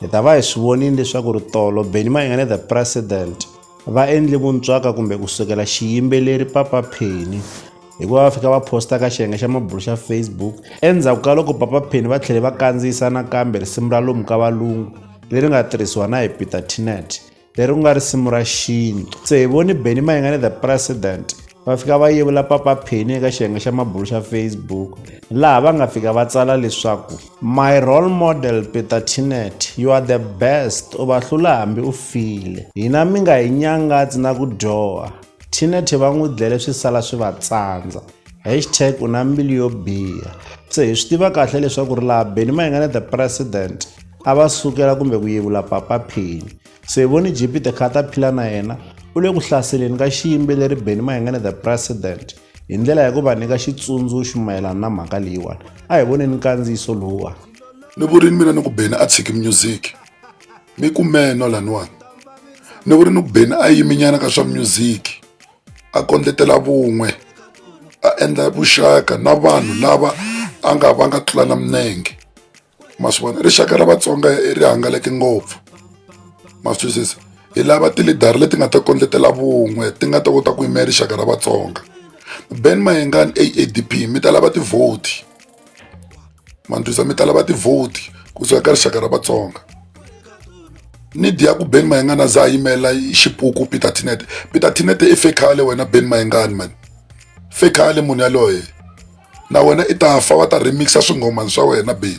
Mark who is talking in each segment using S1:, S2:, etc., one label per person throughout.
S1: Hi ta va hi swi vonile leswaku ri tolo Benny Mayengane the President va endle vuntswaka kumbe ku sukela xiyimbeleri Papa Penny hikuva va fika va posta ka xiyenge xa mabulo xa Facebook endzhaku ka loko Papa Penny va tlhele va kandziyisa nakambe risimu ra lomu ka valungu leri nga tirhisiwa na hi Peter Tinet leri ku nga risimu ra xinyi se hi voni beni mayingane the president va fika va yevula papa pheni eka xiyenge xa mabulu xa facebook laha va nga fika va tsala leswaku my role model peter tinet you are the best u va hlula hambi u file hina mi nga hi nyangatsi na ku dyoha tinet va n'wi dlele swi sala swi va tsandza hashtag u na mbilu yo biha se hi swi tiva kahle leswaku ri laha beni ma hi nga na the president a va sukela kumbe ku yevula papa phini so hi voni gpt kha ta phila na yena u le ku hlaseleni ka xiyimbeleri beni ma hi nga na the president hi ndlela ya ku va nyika xitsundzuxo mayelana na mhaka leyiwani a hi voneni nkandziyiso lowuwani ni vurini mina ni ku beni a tshiki music mi kumeno laniwani ni vurini ku beni a yiminyana ka swa music a kondletela vun'we a endla vuxaka na vanhu lava a nga va nga tlula na minenge ma swi vona rixaka ra vatsonga ri hangalake ngopfu ma swi twisisa hi lava tilidara leti nga ta kondletela vun'we ti nga ta kota ku yimela rixaka ra vatsonga ben mayengani A_A_D_P mi ta lava ti-vote. mandlwisa mi tala va tivhoti kusuka ka rixaka ra vatsonga nidi ya ku ben mayengana za a yimela xipuku peter tinete peter tinete i fekhale wena ben mayengani mani fekhale munhu yaloye na wena i ta fa va ta remixa swingomani swa wena ben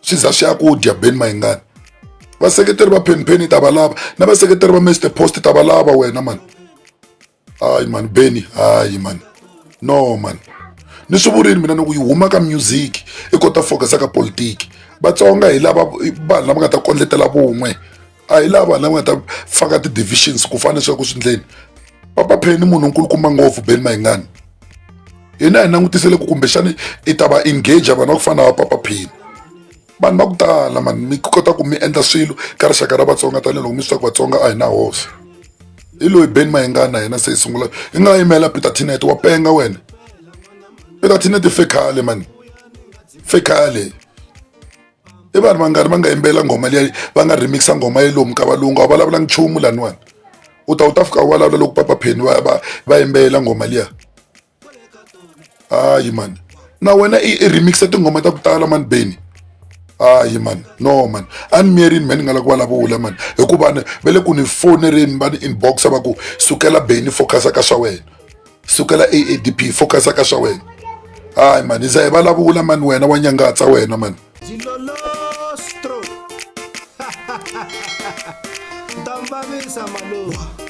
S1: swi za swi ya ku dya beni mayingani vaseketeri va phenpheni ta valava na vaseketeri va mr post ta valava wena mani hayi mani beni hayi mani no mani ni swi vurile mina ni ku yi huma ka music i kota focus ka politiki vatsonga hi lava vanhu lava nga ta kondletela vun'we a hi lava lava nga ta faka ti-divisions ku fana leswaku swi ndleni papa pheni munhu nkulukumba ngopfu beni mayingani hina hi langutisele ku kumbexani i ta va engage vanhu va ku fana va papa pheni vanhu va ku tala mani mi kota ku mi endla swilo ka rixaka ra vatsonga tanihiloko mi swi tiva ku vatsonga a hi na hosi hi loyi beni mayingani na hina se hi sungula hi nga yimela peter tinet wa penga wena peter tinet fekhale mani fekhale i vanhu va nga ri va nga yimbelela nghoma leyi va nga remix-a nghoma ya lomu ka valungu a vulavula nchumu laniwani u ta u ta fika u vulavula loko papa pheni va va va yimbelela nghoma liya hayi mani na wena i i remix-a tinghoma ta ku tala mani beni hayi mani no mani a ni miyerini me ni nga la ku vulavula mani hikuva ni va le ku ni fonereni va ni inbox-a va ku sukela beni focus-a ka swa wena sukela aadp focus ka swa wena hayi mani za hi vulavula mani wena wa nyangatsa wena mani Don't bother, Samalou.